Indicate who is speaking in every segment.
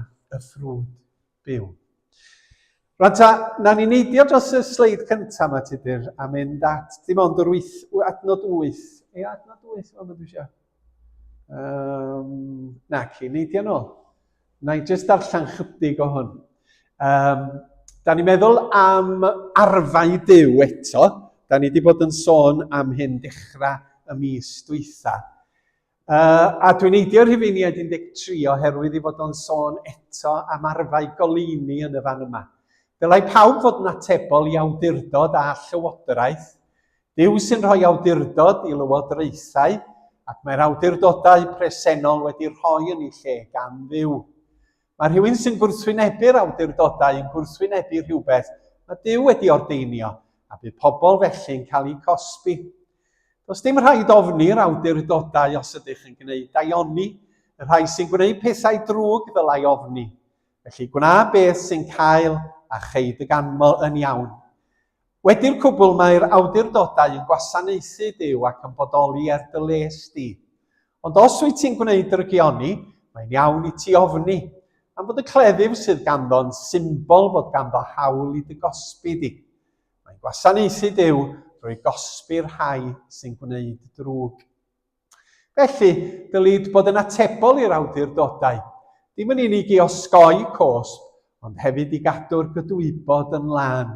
Speaker 1: y ffrwd byw. Rwan ta, na ni neidio dros y sleid cyntaf yma, Tudur, a mynd at dim ond yr wyth, adnod 8. Ei adnod 8 yma, dwi eisiau. Um, na ci, neidio nôl. Na i jyst darllen chydig o hwn. Um, da ni'n meddwl am arfau byw eto. Da ni wedi bod yn sôn am hyn dechrau y mis dwytha. Uh, a dwi'n eidio rhifeiniaid 13 oherwydd i fod o'n sôn eto am arfau goleuni yn y fan yma. Dylai pawb fod yn atebol i awdurdod a llywodraeth. Dyw sy'n rhoi awdurdod i lywodraethau ac mae'r awdurdodau presennol wedi rhoi yn ei lle gan ddiw. Mae rhywun sy'n gwrthwynebu'r awdurdodau yn gwrthwynebu rhywbeth mae Duw wedi ordeinio, a bydd pobl felly'n cael eu cosbi. Does dim rhaid ofni'r awdurdodau os ydych yn gwneud daioni, y rhai sy'n gwneud pethau drwg ddylai ofni. Felly gwna beth sy'n cael a cheid y ganmol yn iawn. Wedi'r cwbl mae'r awdurdodau yn gwasanaethu Duw ac yn bodoli er dy les di. Ond os wyt ti'n gwneud dy rygioni, mae'n iawn i ti ofni, am fod y cleddyf sydd ganddo yn symbol fod ganddo hawl i dy gosbi di. Mae'n gwasanaethu Duw drwy gosbi'r rhai sy'n gwneud drwg. Felly, dylid bod yn atebol i'r awdurdodau, dim yn unig i osgoi cosb, ond hefyd i gadw'r gydwybod yn lân.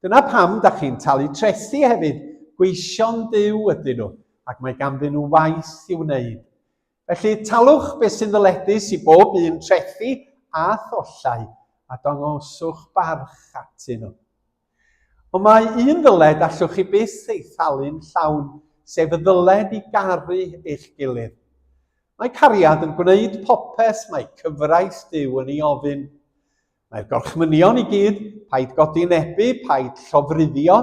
Speaker 1: Dyna pam da chi'n talu trethi hefyd, gweision Duw ydyn nhw, ac mae ganddyn nhw waith i'w wneud. Felly, talwch beth sy'n ddyledus i bob un trethi a thollau, a dangoswch barch atyn nhw. Ond mae un ddyled allwch chi byth ei thalu'n llawn, sef y ddyled i garu eich gilydd. Mae cariad yn gwneud popeth mae cyfraith Duw yn ei ofyn. Mae'r gorchmynion i gyd, paid godi nebu, paid llofruddio,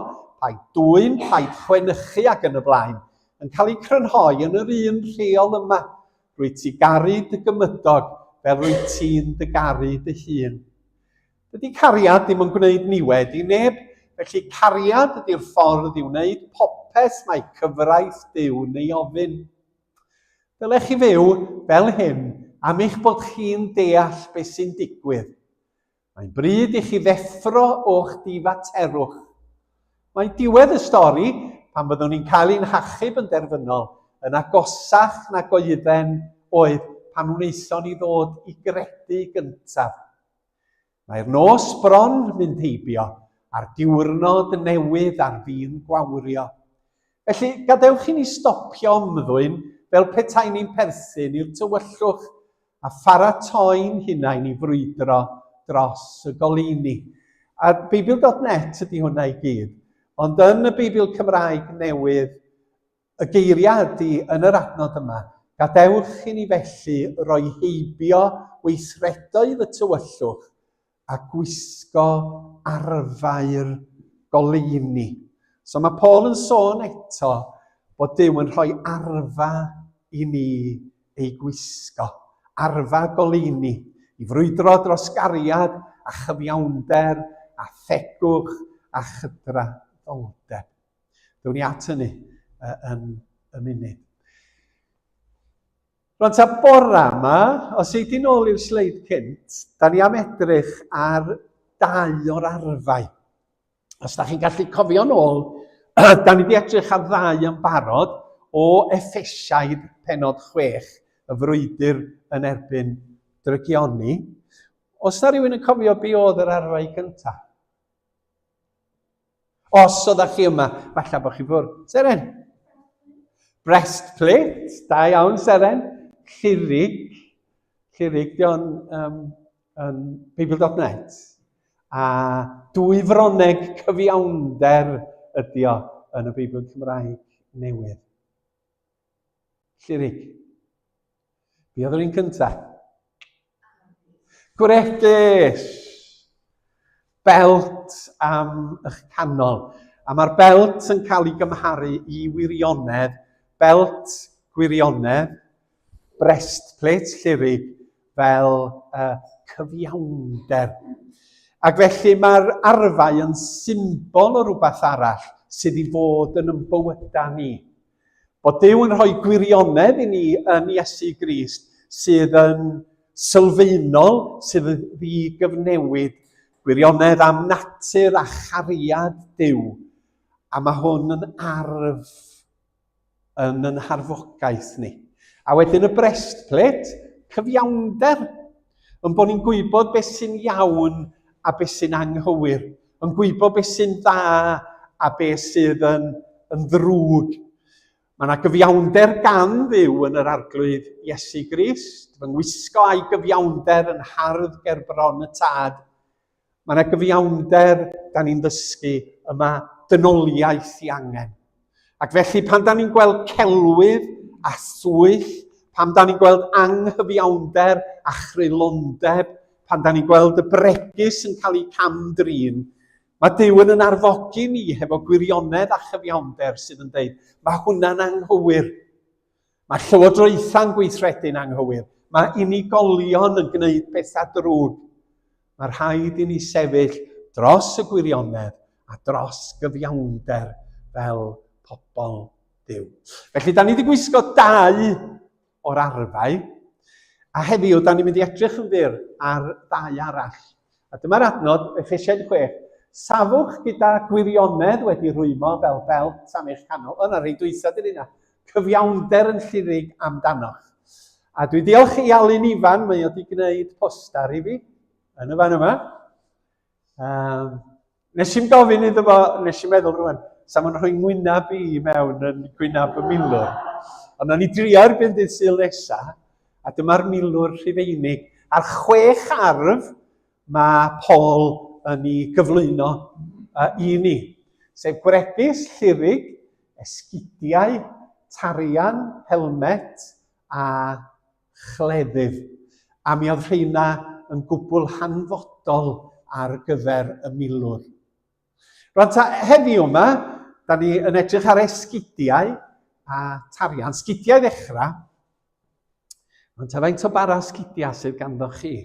Speaker 1: paid dwyn, paid chwenychu ac yn y blaen, yn cael eu crynhoi yn yr un rheol yma, rwyt ti garu dy gymydog fel rwyt ti'n dy garu dy hun. Dydy cariad ddim yn gwneud niwed i neb, felly cariad ydy'r ffordd i wneud popeth mae cyfraith Duw'n ei ofyn. Dylech chi fyw fel hyn am eich bod chi'n deall beth sy'n digwydd. Mae'n bryd i chi ddeffro o'ch difaterwch. Mae diwedd y stori, pan byddwn ni'n cael ein hachub yn derfynol, yn agosach nag oedden oedd pan wnaethon ni ddod i gredu gyntaf. Mae'r nos bron mynd heibio a'r diwrnod newydd ar fin gwawrio. Felly, gadewch i ni stopio ymddwyn fel petai ni'n perthyn i'r tywyllwch a pharatoi'n hunain i frwydro dros y goleuni. A Beibl.net ydy hwnna i gyd. Ond yn y Beibl Cymraeg newydd, Y geiriau ydy yn yr adnod yma, Gadewch i ni felly roi heibio weithredoedd y tywyllwch a gwisgo arfau'r goleuni. So mae Paul yn sôn eto bod Dyw yn rhoi arfa i ni ei gwisgo, arfa goleuni, i frwydro dros gariad a chyfiawnder a thegwch a chydraddoldeb. Dewn ni at hynny yn y munud. Rwan ta bora yma, os ei di nôl i'r sleid cynt, da ni am edrych ar dau o'r arfau. Os da chi'n gallu cofio nôl, da ni wedi edrych ar ddau yn barod o effesiaid penod chwech, y frwydr yn erbyn drygioni. Os da rhywun yn cofio be oedd yr arfau cyntaf? Os oeddech chi yma, falle bod chi fwrdd. Seren. Breastplate. Da iawn, Seren. Llirig. Llirig, di o'n um, um, Bible.net. A dwy froneg cyfiawnder ydi o yn y Beibl Cymraeg newydd. Llirig. Be oedd yr un cynta? Gwregys! Belt am eich canol. A mae'r belt yn cael ei gymharu i wirionedd, belt gwirionedd, breastplate llirig fel uh, cyfiawnder. Ac felly mae'r arfau yn symbol o rhywbeth arall sydd i fod yn ymbywydau ni. Bod Duw yn rhoi gwirionedd i ni yn Iesu Grist sydd yn sylfaenol, sydd yn ddi-gyfnewid, gwirionedd am natur a chariad Duw, a mae hwn yn arf yn yn harfogaeth ni. A wedyn y brestplet, cyfiawnder, yn bod ni'n gwybod beth sy'n iawn a beth sy'n anghywir. yn gwybod beth sy'n dda a beth sydd yn, yn ddrwg. Mae yna gyfiawnder gan ddiw yn yr arglwydd Iesu Grist, fy ngwisgo a'i gyfiawnder yn hardd ger bron y tad. Mae yna gyfiawnder, da ni'n ddysgu, yma dynoliaeth i angen. Ac felly, pan da ni'n gweld celwydd a swyll, pan da ni'n gweld anghyfiawnder a chrylondeb, pan da ni'n gweld y bregus yn cael ei cam-drin, mae Dyw yn yn arfogi ni hefo gwirionedd a chyfiawnder sydd yn dweud, mae hwnna'n anghywir. Mae llywodraethau'n gweithredu'n anghywir. Mae unigolion yn gwneud pethau drwg. Mae rhaid i ni sefyll dros y gwirionedd a dros gyfiawnder fel pobl Dyw. Felly, da ni wedi gwisgo dau o'r arfau, a heddiw, da ni'n mynd i edrych yn fyr ar ddau arall. A dyma'r adnod, Efesiaid 6, Safwch gyda gwirionedd wedi rwymo fel belt am eich canol. O, na rhai dwysa dyn yna. Cyfiawnder yn llirig amdanoch. A dwi diolch i Alun Ifan, mae o wedi gwneud poster i fi, yn y fan yma. Um, Nes i'n gofyn iddo fo, nes i'n meddwl rwan, sa ma'n rhoi ngwynab i mewn yn gwynab y milwr. Ond o'n i drio erbyn dydd syl nesa, a dyma'r milwr rhifeinig. Ar chwech arf mae Paul yn ei gyflwyno uh, i ni, sef gwregys, llirig, esgidiau, tarian, helmet a chleddyf, a mi oedd rheina yn gwbl hanfodol ar gyfer y milwr. Rwan ta, heddiw yma, da ni yn edrych ar esgidiau a tarian. Sgidiau ddechrau. Ond ta faint o bara sgidiau sydd ganddo chi?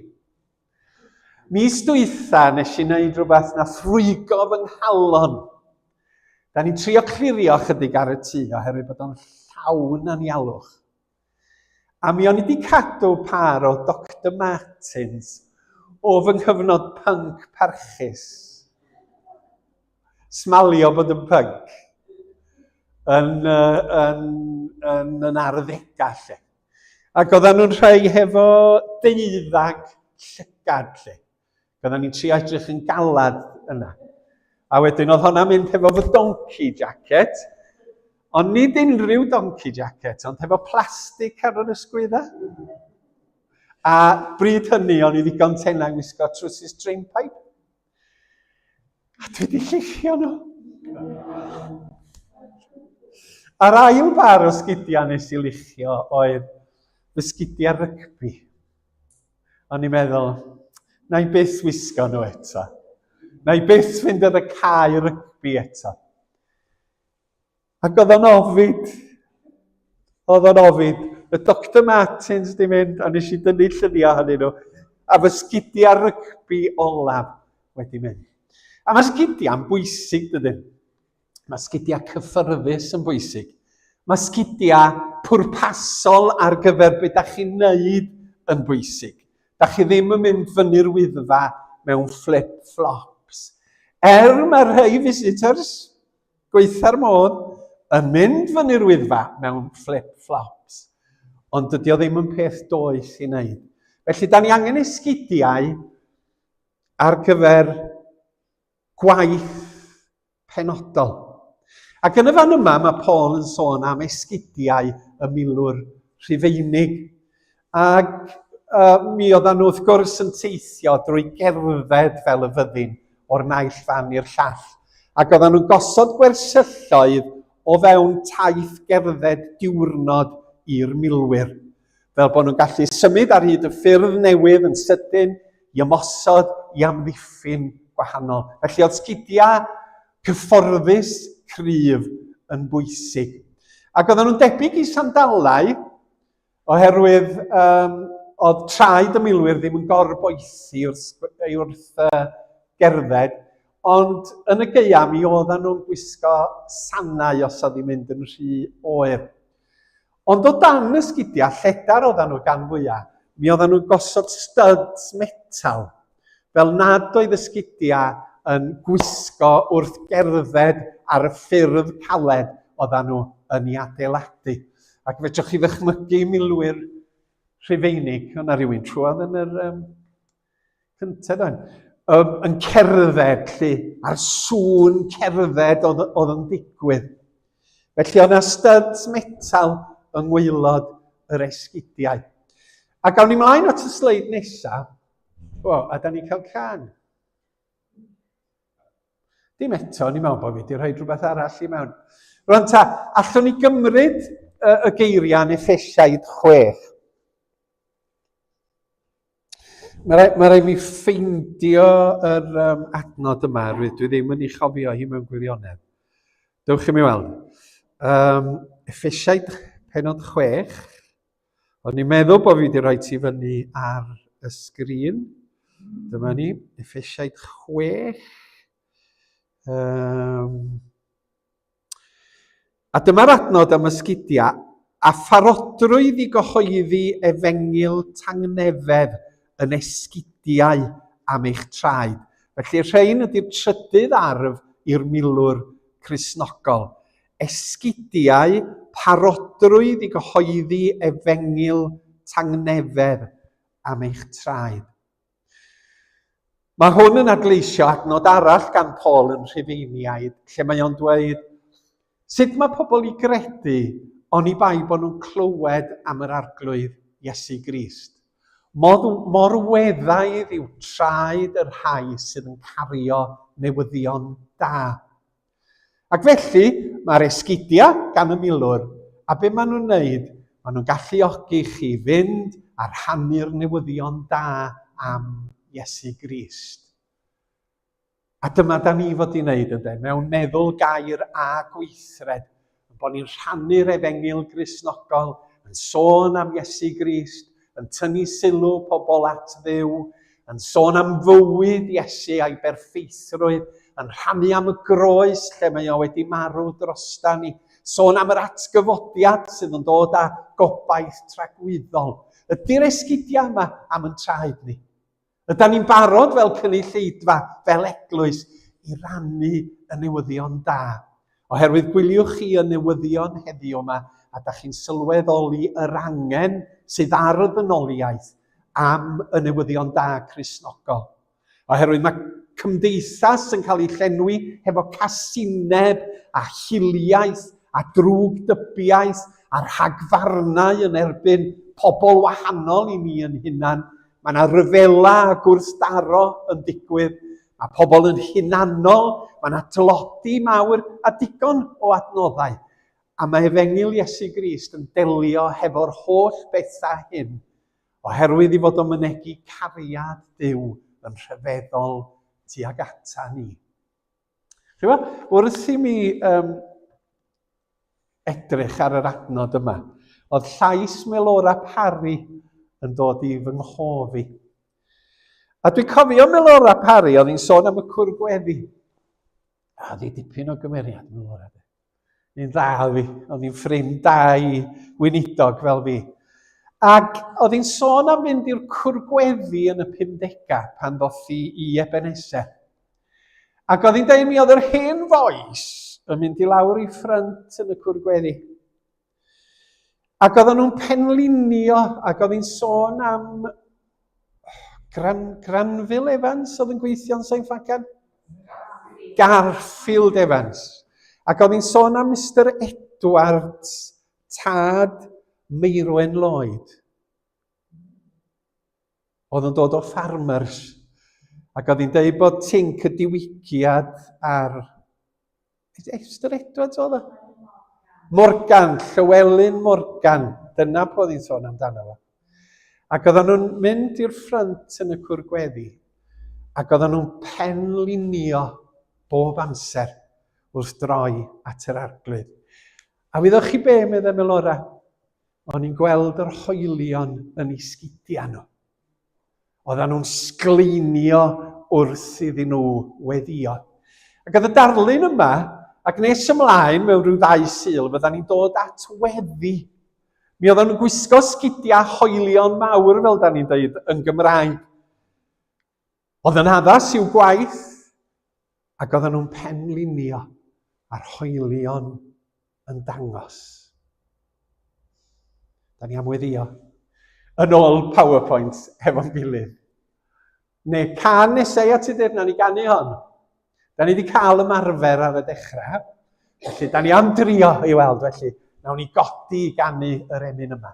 Speaker 1: Mis dwytha nes i wneud rhywbeth na ffrwygo fy nghalon. Da ni'n trio clirio chydig ar y tŷ oherwydd bod o'n llawn anialwch. A mi o'n i wedi cadw par o Dr Martins o fy nghyfnod punk parchus. Smalio bod yn punk. Yn, uh, yn, yn, yn arddegau lle. Ac oedden nhw'n rhai hefo deuddag llygad lle. Gynna ni'n tri edrych yn galad yna. A wedyn oedd honna mynd hefo fy donkey jacket, ond nid unrhyw donkey jacket, ond hefo plastig ar yr ysgwydda. A bryd hynny o'n i ddigon tenau wisgo trwsus drainpipe. A dwi wedi llithio nhw. A'r ail bar o sgidiau nes i lichio oedd fy sgidiau rygbi. O'n i'n meddwl, na i byth wisgo nhw eto. Na i byth fynd ar y cae rygbi eto. Ac oedd o'n ofid. Oedd o'n ofid. Y Dr Martins di mynd, a nes i dynnu lluniau hynny nhw. A fy sgidia rygbi olaf wedi mynd. A mae sgidiau'n bwysig dydyn. Mae sgidiau cyffyrddus yn bwysig. Mae sgidiau pwrpasol ar gyfer beth da chi'n neud yn bwysig. Da chi ddim yn mynd fyny'r wyddfa mewn flip-flops. Er mae rhai visitors, gweitha'r modd, yn mynd fyny'r wyddfa mewn flip-flops. Ond dydy o ddim yn peth does i wneud. Felly, da ni angen esgidiau ar gyfer gwaith penodol. Ac yn y fan yma mae Paul yn sôn am esgidiau y milwr rhufeinig. Ac uh, mi oedden nhw wrth gwrs yn teithio drwy gerdded fel y fyddin o'r naill fan i'r llall. Ac oedden nhw'n gosod gwersylloedd o fewn taith gerdded diwrnod i'r milwyr. fel bod nhw'n gallu symud ar hyd y ffyrdd newydd yn sydyn i ymosod i amddiffyn gwahanol. Felly oedd sgidiau cyfforddus cryf yn bwysig. Ac oedden nhw'n debyg i sandalau oherwydd um, oedd traed y milwyr ddim yn gorboethi wrth, wrth uh, gerdded, ond yn y geia mi oedden nhw'n gwisgo sanau os oedd hi'n mynd yn rhy oer. Ond o dan y sgidiau lledar oeddan nhw gan fwya, mi oeddan nhw'n gosod styds metal, fel nad oedd y sgidiau yn gwisgo wrth gerdded ar y ffyrdd caled oeddan nhw yn ei adeiladu. Ac fedrwch chi ddychmygu milwyr Rhufeinig, o'na rywun trwodd yn yr um, Cyntaf dan, um, yn cerdded lle, a'r sŵn cerdded oedd, oedd yn digwydd. Felly oedd yna studs metal yng ngweilod yr esgidiau. A gawn ni mlaen at y sleid nesaf, o, a da ni'n cael can. Dim eto, ni'n meddwl bod fi wedi rhoi rhywbeth arall i mewn. Rwan ta, allwn ni gymryd y, y geiriau yn effesiaid chwech. Mae rhaid, mae rhaid mi ffeindio yr um, adnod yma, rwy'n dwi ddim yn ei chofio hi mewn gwirionedd. Dewch i mi weld. Um, effeisiaid penod chwech. O'n i'n meddwl bod fi wedi rhoi ti fyny ar y sgrin. Dyma ni, effeisiaid chwech. Um, A dyma'r adnod am ysgidiau a pharodrwydd i gyhoeddi efengyl tangnefedd yn esgidiau am eich traed. Felly rhein ydy'r trydydd arf i'r milwr Cristnogol, esgidiau, parodrwydd i gyhoeddi efengyl tangnefedd am eich traed. Mae hwn yn adleisio adnod arall gan Paul yn Rhufeiniaid, lle mae o'n dweud, Sut mae pobl i gredu oni bai bod nhw'n clywed am yr arglwydd Iesu Grist? Mor, mor weddaidd yw traed y rhai sydd yn cario newyddion da. Ac felly, mae'r esgidiau gan y milwr, a be maen nhw'n wneud, maen nhw'n galluogi chi fynd a rhannu'r newyddion da am Iesu Grist. A dyma da ni fod i'n wneud, ynddo, mewn meddwl gair a gweithred, Ein bod ni'n rhannu'r efengyl Gristnogol, yn sôn am Iesu Grist, yn tynnu sylw pobl at ddew, yn sôn am fywyd Iesu a'i berffeithrwydd, yn rhannu am y groes lle mae o wedi marw drosta ni, sôn am yr atgyfodiad sydd yn dod â gobaith tragwyddol. Ydy'r esgidiau yma am yn traed ni? Ydan ni'n barod fel cynulleidfa, fel eglwys, i rannu y newyddion da? Oherwydd gwyliwch chi y newyddion heddiw yma, a da chi'n sylweddoli yr angen sydd ar y ddynoliaeth am y newyddion da Crisnogol. Oherwydd mae cymdeithas yn cael ei llenwi hefo casineb a hiliaeth a drwg dybiaeth a rhagfarnau yn erbyn pobl wahanol i ni yn hunan, Mae yna ryfela a gwrthdaro yn digwydd. Mae pobl yn hunanol, mae yna tlodi mawr a digon o adnoddau. A mae efengyl Iesu Grist yn delio hefo'r holl bethau hyn, oherwydd i fod o mynegi cariad Dyw yn rhyfeddol tuag ata ni. Chyfo, wrth i mi um, edrych ar yr adnod yma, oedd llais Melora Parry yn dod i fy nghof i. A dwi'n cofio Melora Parry, oedd hi'n sôn am y cwr gweddi. A oedd hi dipyn o gymeriad Melora. Un dda oedd hi, oedd hi'n ffrind da i weinidog fel fi. Ac oedd hi'n sôn am fynd i'r cwrgweddi yn y 50 pan ddoth hi i Ebenezer. Ac oedd hi'n dweud mi oedd yr hen fois yn mynd i lawr i ffrynt yn y cwrgweddi. Ac oedden nhw'n penlinio, ac oedd hi'n sôn am Gran, Granville Evans oedd yn gweithio'n Sain Ffagan? Garfield Evans. Ac oedd hi'n sôn am Mr Edwards, tad Meirwen Lloyd. oedd yn dod o farmers, ac oedd hi'n dweud bod tinc y diwygiad ar... Esther Edwards oedd o? Morgan, Llywelyn Morgan, dyna pwy oedd hi'n sôn amdano fo. Ac oedden nhw'n mynd i'r ffrynt yn y cwr gweddi, ac oedden nhw'n penlinio bob amser wrth droi at yr arglwydd. A wyddoch chi be, meddai Melora? O'n i'n gweld yr hoelion yn ei sgidiau nhw. Oedden nhw'n sgleinio wrth iddyn nhw weddio. Ac oedd y darlun yma, ac nes ymlaen mewn rhyw ddau syl, fydda ni'n dod at weddi. Mi oedd o'n gwisgo sgidiau hoelion mawr, fel da ni'n dweud, yn Gymraeg. Oedd yn addas i'w gwaith ac oedden nhw'n penlinio a'r hoelion yn dangos. Da ni am weddio. Yn ôl PowerPoint hefo'n gilydd. Neu can nesau at y na ni ganu hon. Da ni wedi cael ymarfer ar y dechrau. Felly, da ni am drio i weld felly. Nawn ni godi i ganu yr emyn yma.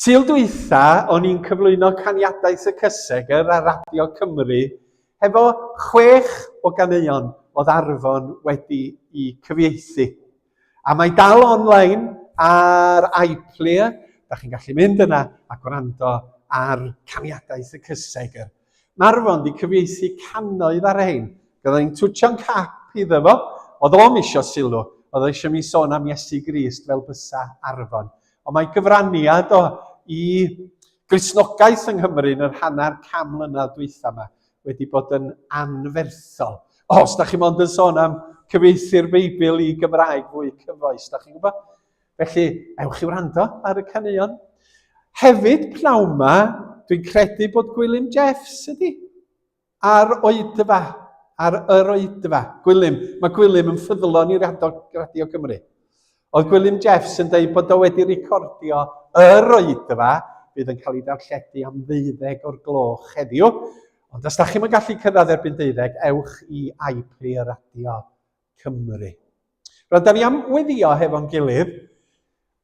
Speaker 1: Sul dwytha o'n i'n cyflwyno caniadau Sir Cysegr ar Radio Cymru hefo chwech o ganeuon oedd Arfon wedi i cyfieithu. A mae dal online ar iPlayer, da chi'n gallu mynd yna a gwrando ar caniadau Sir Cysegr. Marfon di cyfieithu cannoedd ar rhein. Gyda ni'n twtio'n cap iddo fo, oedd o'm isio sylw, oedd o eisiau mi sôn am Iesu Grist fel bysa Arfon. Ond mae gyfraniad o i Gristnogaeth yng Nghymru yn yr hanner cam mlynedd dwytha yma wedi bod yn anferthol. O, os da chi mond yn sôn am cyfieithu'r Beibl i Gymraeg fwy cyfoes, da chi'n gwybod? Felly, ewch i wrando ar y caneuon. Hefyd, pnawn ma, dwi'n credu bod Gwilym Jeffs ydi. Ar oedfa. Ar yr oedfa. Gwilym. Mae Gwilym yn ffyddlon i'r Radio Cymru. Oedd Gwilym Jeffs yn dweud bod o wedi recordio yr oedfa bydd yn cael ei darlledu am ddeuddeg o'r gloch heddiw. Ond os da chi'n gallu cyrraedd erbyn deuddeg, ewch i iPlayer Radio. Cymru. Rydyn da ni am weddio hefo'n gilydd,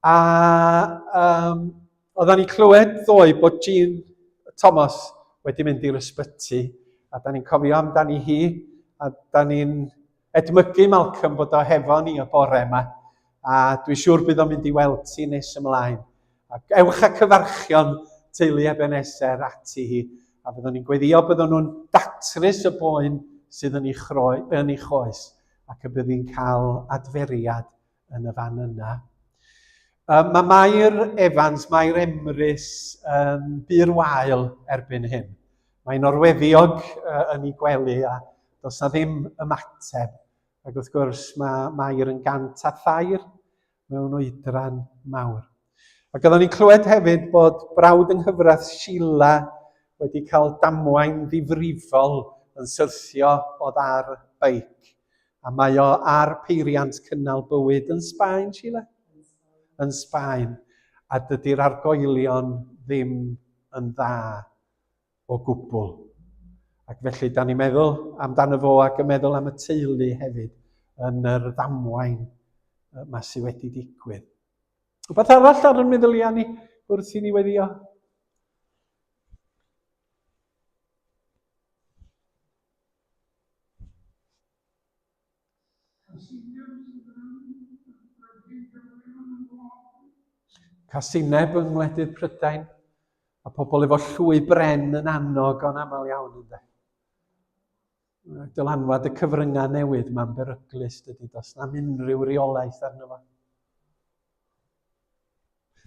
Speaker 1: a um, oedden ni clywed ddoe bod Jean Thomas wedi mynd i'r ysbyty, a da ni'n cofio amdani hi, a da ni'n edmygu Malcolm bod o hefo ni y bore yma. A dwi'n siŵr bydd o'n mynd i weld ti nes ymlaen. Ac ewch a cyfarchion teulu Ebenezer ati hi, a byddwn ni'n gweddio byddwn nhw'n datrys y boen sydd yn ei, chroi, yn ei choes, ac y bydd hi'n cael adferiad yn y fan yna. Um, mae Mair Evans, Mair Emrys, um, byr wael erbyn hyn. Mae'n orweddiog uh, yn ei gwely a does na ddim ymateb Ac wrth gwrs, mae Mair yn gant a thair mewn oedran mawr. Ac oeddwn ni'n clywed hefyd bod brawd yng nghyfraith Sheila wedi cael damwain ddifrifol yn syrthio o ddar beic. A mae o ar peiriant cynnal bywyd yn Sbaen, Sheila? Yn Sbaen. A dydy'r argoelion ddim yn dda o gwbl. Ac felly, da ni'n meddwl amdano fo ac yn meddwl am y teulu hefyd yn yr ddamwain yma sydd wedi digwydd. Rhywbeth arall ar y meddyliau ni wrth i ni weddio? Casineb yng ngwledydd Prydain, a pobl efo llwy bren yn annog o'n aml iawn ynde. Dylanwad y cyfryngau newydd mae'n beryglus dydy, does na'm unrhyw reolaeth arno fo.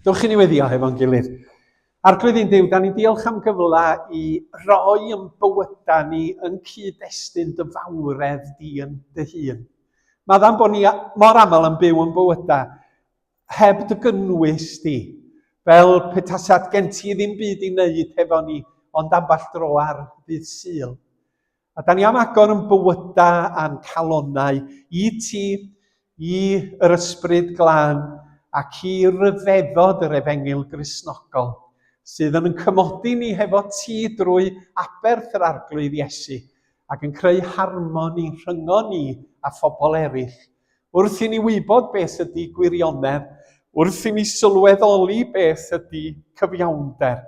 Speaker 1: Dewch i ni weddio hefo'n gilydd. Arglwydd i'n Duw, da ni'n diolch am gyfle i roi yn bywyda ni yn cyd-destun dy fawredd di yn dy hun. Mae dda'n bod ni mor aml yn byw yn bywyda heb dy gynnwys di, fel petasat gen ti ddim byd i wneud hefo ni ond ambell dro ar ddydd syl. A da ni am agor yn bywydau a'n calonau i ti, i yr ysbryd glân ac i ryfeddod yr efengyl grisnogol sydd yn yn cymodi ni hefo ti drwy aberth yr arglwydd Iesu ac yn creu harmoni rhyngo ni a phobl eraill. Wrth i ni wybod beth ydy gwirionedd, wrth i ni sylweddoli beth ydy cyfiawnder,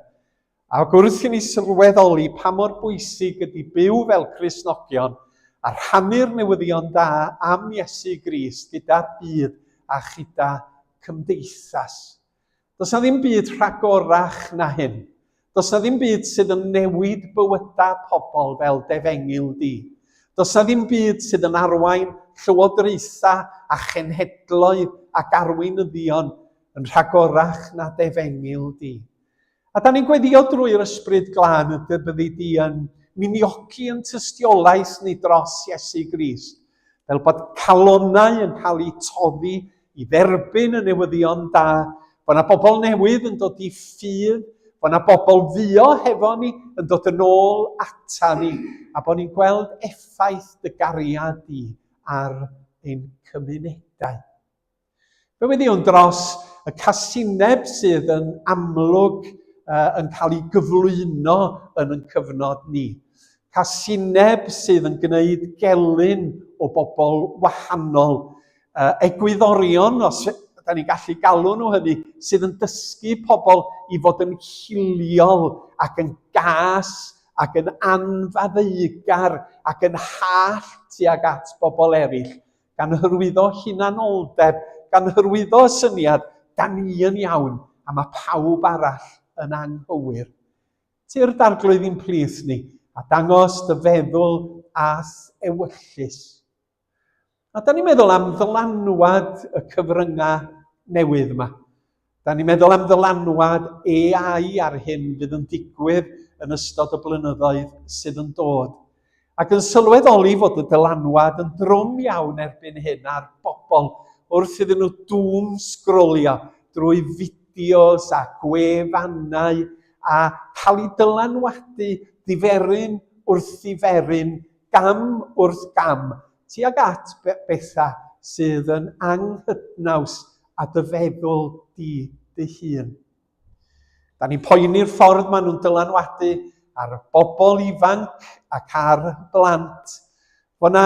Speaker 1: Ac wrth i ni sylweddoli pa mor bwysig ydy byw fel Cristnogion a rhannu'r newyddion da am Iesu Grist gyda'r byd a chyda chymdeithas. Does na ddim byd rhagorach na hyn. Does na ddim byd sydd yn newid bywydau pobl fel defengil di. Does na ddim byd sydd yn arwain llywodraethau a chenhedloedd ac arweinyddion yn rhagorach na defengil di. A da ni'n gweddio drwy'r Ysbryd Glân y dy byddi di yn minioci yn tystiolaeth ni dros Iesu Grist, fel bod calonau yn cael eu toddi i dderbyn y newyddion da, bod na bobl newydd yn dod i ffydd, bod na bobl fuo hefo ni yn dod yn ôl ata ni, a bod ni'n gweld effaith dy gariad di ar ein cymunedau. Fe wyddiwn dros y casineb sydd yn amlwg uh, yn cael ei gyflwyno yn yn cyfnod ni. Casineb sydd yn gwneud gelyn o bobl wahanol, uh, egwyddorion, os da ni'n gallu galw nhw hynny, sydd yn dysgu pobl i fod yn hiliol ac yn gas ac yn anfaddeugar ac yn hallt tuag at bobl eraill. gan hyrwyddo hunanoldeb, gan hyrwyddo y syniad, da ni yn iawn a mae pawb arall yn anghywir. Tir d'arglwydd i'n plith ni, a dangos dy feddwl ath ewyllus. A da ni'n meddwl am ddylanwad y cyfryngau newydd yma. Da ni'n meddwl am ddylanwad AI ar hyn fydd yn digwydd yn ystod y blynyddoedd sydd yn dod, ac yn sylweddoli fod y dylanwad yn drwm iawn erbyn hyn ar bobl wrth iddyn nhw dŵm sgrolio drwy fideos a gwefannau a cael eu dylanwadu diferyn wrth ddiferyn, gam wrth gam, tuag at bethau sydd yn anghydnaws â dy feddwl di dy hun. Da ni'n poeni'r ffordd maen nhw'n dylanwadu ar bobl ifanc ac ar blant. Fo na,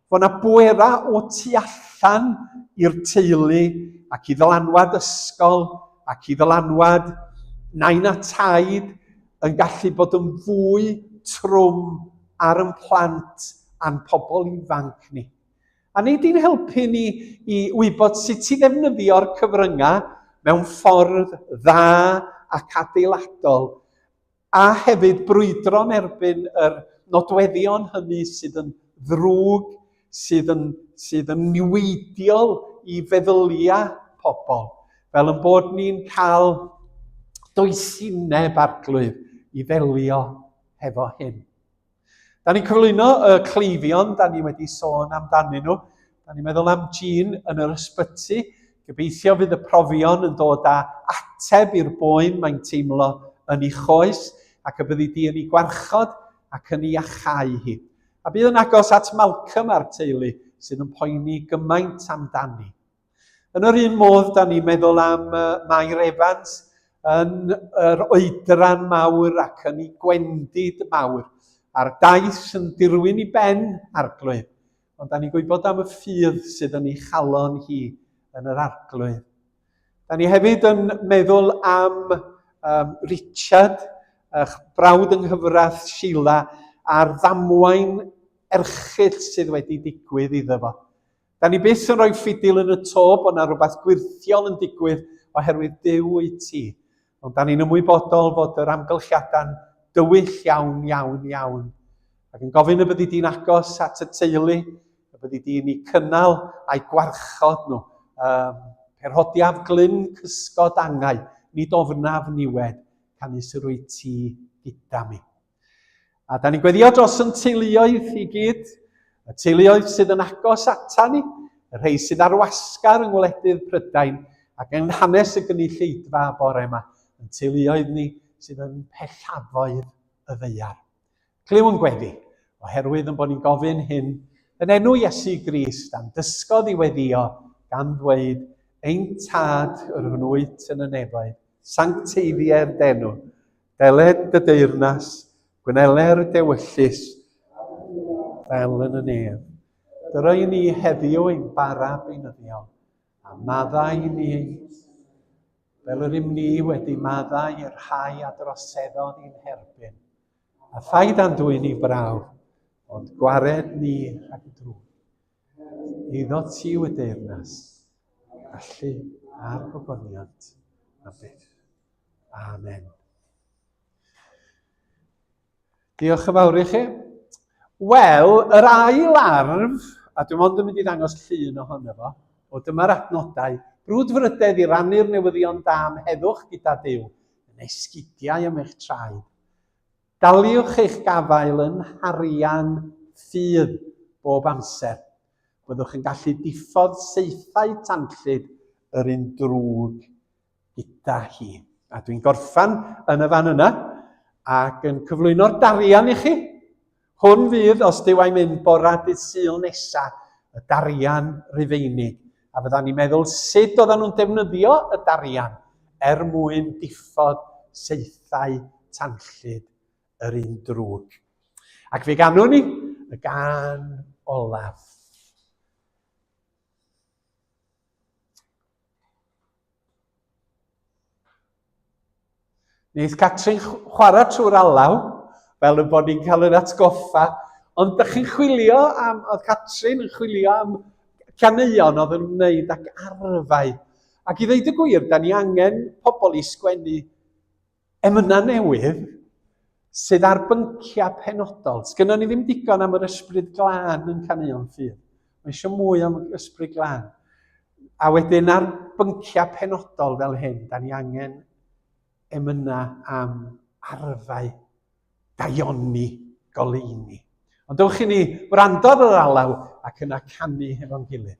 Speaker 1: fo na bwera o tu allan i'r teulu ac i ddylanwad ysgol ac i ddylanwad nain a taid yn gallu bod yn fwy trwm ar yn plant a'n pobl ifanc ni. A nid i'n helpu ni i wybod sut i ddefnyddio'r cyfryngau mewn ffordd dda ac adeiladol, a hefyd brwydro'n erbyn yr nodweddion hynny sydd yn ddrwg sydd yn, sydd yn niweidiol i feddyliau pobl, fel yn bod ni'n cael doesineb arglwydd i ddelio hefo hyn. Da ni'n cyflwyno y cleifion, da ni wedi sôn amdanyn nhw. Da ni'n meddwl am Jean yn yr ysbyty. Gobeithio fydd y profion yn dod â ateb i'r boen mae'n teimlo yn ei choes ac y byddi di yn ei gwarchod ac yn ei achau hi. a bydd yn agos at Malcolm a'r teulu sydd yn poeni gymaint amdani. Yn yr un modd, da ni'n meddwl am Mair Evans yn yr oedran mawr ac yn ei gwendid mawr, a'r daith yn dirwyn i ben arglwydd, ond da ni'n gwybod am y ffydd sydd yn ei chalon hi yn yr arglwydd. Da ni hefyd yn meddwl am um, Richard, eich brawd yng nghyfraith Sheila, a'r ddamwain erchill sydd wedi digwydd iddo fo. Da ni byth yn rhoi ffidil yn y to bod yna rhywbeth gwirthiol yn digwydd oherwydd Duw wyt ti. Ond da ni'n ymwybodol fod yr amgylchiadau'n dywyll iawn, iawn, iawn. Ac yn gofyn y byddi di'n agos at y teulu, y byddi di'n eu cynnal a'i gwarchod nhw. Um, perhodiaf glyn cysgod angau, nid ofnaf niwed, canys yr wyt ti gyda mi. A da ni'n gweddio dros yn teuluoedd i gyd, y teuluoedd sydd yn agos ata ni, y rhai sydd ar wasgar yng ngwledydd Prydain ac yng nghanes y gynulleidfa bore yma, yn teuluoedd ni sydd yn pellafoedd y ddeiar. Clyw yn gweddi, oherwydd yn bod ni'n gofyn hyn yn enw Iesu Grist a'n dysgodd i weddio gan ddweud ein tad yr hwn wyt yn y nefoedd, sancteiddiau'r denw, Deled y deyrnas, gweneler y dewyllus, fel yn y nef. Dyra i ni heddiw ein bara beunyddiol, a maddau i ni ein fel yr ym ni wedi maddau i'r rhai a droseddodd i'n herbyn. A phaid andwy'n ni brawf, ond gwared ni rhag drwy. Iddo ti yw y deyrnas, gallu a'r gogoniant am byth. Amen. Diolch yn fawr i chi. Wel, yr ail arf, a dwi'n ond yn mynd i ddangos llun ohono fo, o dyma'r adnodau, brwdfrydedd i rannu'r newyddion da am heddwch gyda Dyw, yn esgidiau am eich traed. Gallwch eich gafael yn harian ffydd bob amser. Byddwch yn gallu diffodd saethau tanllyd yr un drwg gyda hi. A dwi'n gorffan yn y fan yna ac yn cyflwyno'r darian i chi. Hwn fydd, os dyw a'i mynd bora dydd Sul nesa, y darian Rufeinig A fyddan ni'n meddwl sut oedden nhw'n defnyddio y darian er mwyn diffod saethau tanllyd yr un drwg. Ac fe ganwn ni y gan olaf. Neith Catrin chwarae trwy'r alaw, fel y bod ni'n cael yr atgoffa. Ond ydych chi'n chwilio am, oedd Catrin yn chwilio am caneuon oedd yn wneud ac arfau. Ac i ddeud y gwir, da ni angen pobl i sgwennu emynau newydd sydd ar bynciau penodol. Sgynnon ni ddim digon am yr ysbryd glân yn caneuon ffydd. Mae eisiau mwy am ysbryd glan. A wedyn ar bynciau penodol fel hyn, da ni angen emynau am arfau daioni goleini. Ond dewch i ni wrando ar yr alaw ac yna canu hefo'n gilydd.